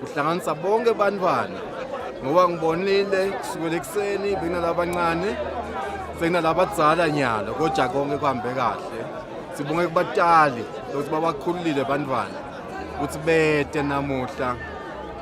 kuhlanganisa bonke bantwana ngoba ngibonile kusukela ekuseni bekunalabancane sekunalabadzala nyalo kodwa konke kuhambe kahle sibonge kubatali ukuthi babakhululile bantwana ukuthi bete namuhla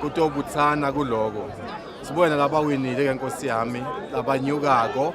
kutobuthana kuloko sibone labawinile ke nkosi yami labanyukako